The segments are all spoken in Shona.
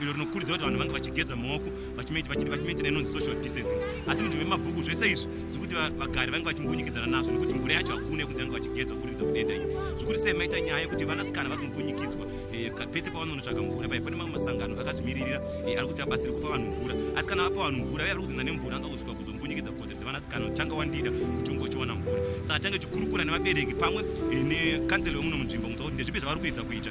iro rinokurudzira kuti vanhu vange vachigeza maoko vachimaitira inonzi social distancing asi munzvimbo yemabhuku zvese izvi zvekuti vagari vange vachimbunyikidzana nazvo nekuti mvura yacho hakuna yekuti vange vachigeza kuburikidza kudenda iyi zvekuti sei maita nyaya yekuti vanasikana vari kumbunyikidzwa eh, pese pavanonotsvaga mvura paye pane mamwe masangano akazvimiririra eh, ari kuti abatsire kupa vanhu mvura asi kana vapa vanhu mvura vave vari kuzinda nemvura anza kusvika kuzombunyikidza kukodzero dzevanasikana changa wandida kuti ungochiwana mvura saka change chikurukura nevabereki pamwe eh, nekanzelo yomuno munzvimbo kuti ndezvipi zvavari kuedza kuita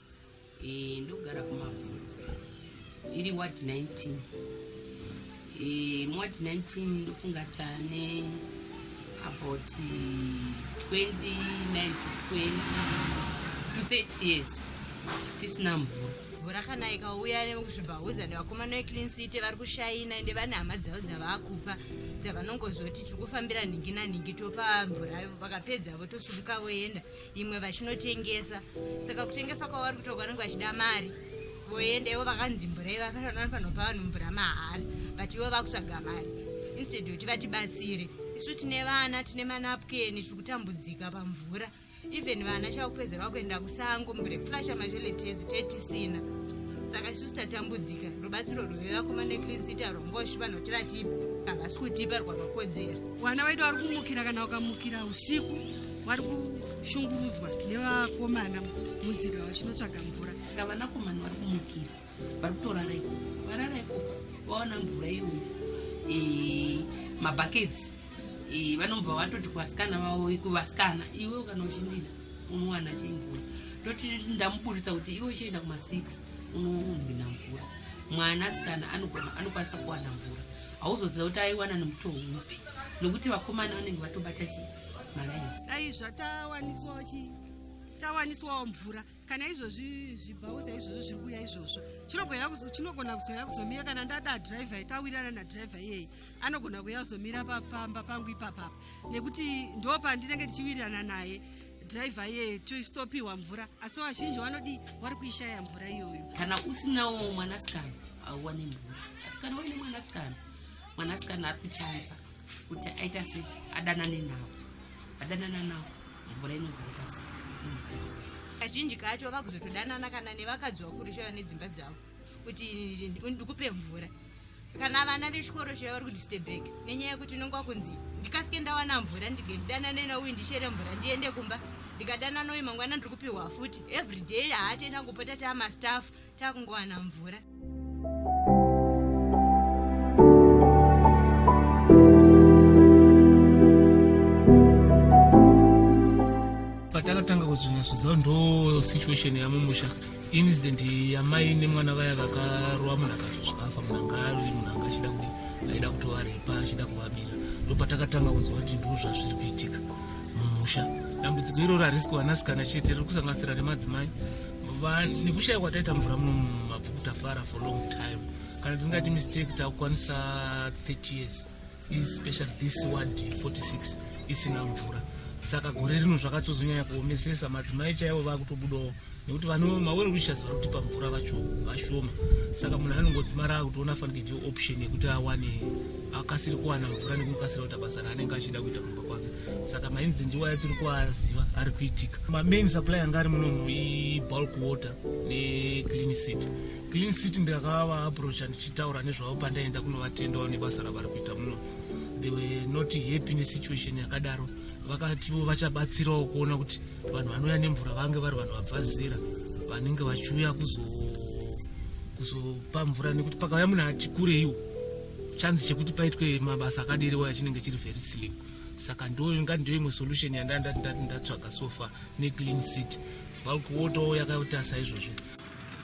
Eh, ndogara kumabvu iri ward 19 eh, muward 19 ndofunga tane about 29 to 20 to 30 years tisina mvura mvura kana ikauya nemukuzvibhahuza nevakomana veclean city vari kushaina ende vane hama dzavo dzavakupa dzavanongozoti tiri kufambira nhingi nanhingi topa mvura vakapedzavo tosumuka voenda imwe vachinotengesa saka kutengesa kwavo vari kutoka vanenge vachida mari voenda ivo vakanzi mvura ivo vanopa vanhu mvura mahara but ivo vakutsvaga mari instead yekuti vatibatsire isu tine vana tine manapukeni tiri kutambudzika pamvura even vana chava kupedzerwa kuenda kusango mvura yekuflasha matoleti yedu tee tisina saka isusu tatambudzika rubatsiro rwevakomana eclinsita rwongoshi vanoti vatipa havasi kutipa rwakakodzera vana vaida vari kumukira kana vakamukira usiku vari kushungurudzwa nevakomana munzira vachinotsvaga mvura ka vanakomana vari kumukira vari kutorara ikoko varara ikoko vaona mvura iyo eh, mabhaketsi eh, vanobva vatoti kuvasikana vavo kuvasikana iwe ukana uchindida unowana chii mvura toti ndamuburitsa kuti iwe uchienda kuma6 unohwina mvura mwana asikana anogona anokwanisa kuwana mvura hauzoziva kuti aiwana nemutoo upi nokuti vakomana vanenge vatobata chii dai zvatawaniswawo chii tawaniswawo mvura kana izvozvi zvibhauza izvozvo zviri kuuya izvozvo chinogona kuzouya kuzomira kana ndada driver tawirirana nadriver iyeyi anogona kuuya kuzomira pamba pangu ipapapa nekuti ndo pandinenge ndichiwirirana naye driver iyeyo toistopiwa mvura asi vazhinji vanodii wari kuishaya mvura iyoyo kana usinawo mwanasikana hauwane mvura asikana waine mwanasikana mwanasikana ari kuchanza kuti aita se adanane nawo adanana nawo mvura inozoita se kazhinji kacho vakuzotodanana kana nevakadzi vakuru chaiva nedzimba dzavo kuti ndikupe mvura kana vana vechikoro chaiva vari kuti stebek nenyaya yekuti unenge wakunzi ndikasike ndawana mvura ndinge ndidanane nauyu ndichere mvura ndiende kumba ndikadanana uyu mangwana ndiri kupihwa futi every day haatenda kupota taamastaff takungowana mvura patakatanga kuzvinyasvizawo ndo situation yamumusha incident yamai nemwana vaya vakarova munhu akazozvikafa munhu anga ari munhu anga achida kuti aida kutovarepa achida kuvabira ndo patakatanga kunzwa kuti ndo zvazviri kuitika mumusha dambudziko iroro harisi kuwanasikana chete riri kusanganisira nemadzimai nekushaya kwataita mvura muno mumabvuku tafara for long time kana tisingati mistake takukwanisa 30 years especially this ward 46 isina mvura saka gore rino zvakatozonyanya kuomesesa madzimai chaivo vakutobudawo nekuti vane mawere wishers vari kutipa mvura vacho vashoma saka munhu anongodzimara akutoona fanike ndiyo option yekuti awane akasiri kuwana mvura nekukasira kuita basa raanenge achida kuita kumba kwake saka mainzi ndiwaya tiri kuaziva ari kuitika mamain supply anga ari munomu ibulk water neclean city clean city ndakava approacha ndichitaura nezvavo pandaenda kunovatendawo nebasa ravari kuita muno they were not happy nesituation yakadaro vakativo vachabatsirawo kuona kuti vanhu vanouya nemvura vange vari vanhu vabva zera vanenge vachiuya kuzopa mvura nekuti pakauya munhu ati kureiwo chanzi chekuti paitwe mabasa akadiriwo yachinenge chiri very slim saka ndoinga ndoimwe solution yandandati ndati ndatsvaga sofa neclean seat vakuotowo yakaita saizvozvo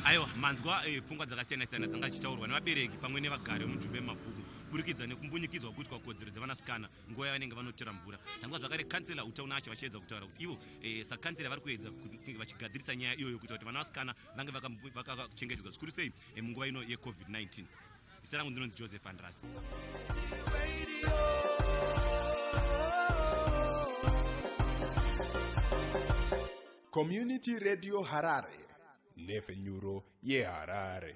aiwa manzwa eh, pfungwa dzakasiyana siyana dzanga dzichitaurwa nevabereki pamwe nevagari vemujumbe yemabvuku kuburikidza nekumbunyikidzwa kuitwa kodzero dzevanasikana nguva yavanenge vanotera mvura tangwa zvakare kansela utauna acho vachiedza kutaura kuti ivo eh, sakansela vari kuedza kunge vachigadzirisa nyaya iyoyo kuita kuti vana vasikana vange vakachengetedzwa zvikuru sei eh, munguva ino yecovid-19 zita rangu ndinonzi joseph andrasi community radio harare nhefenyuro yeharare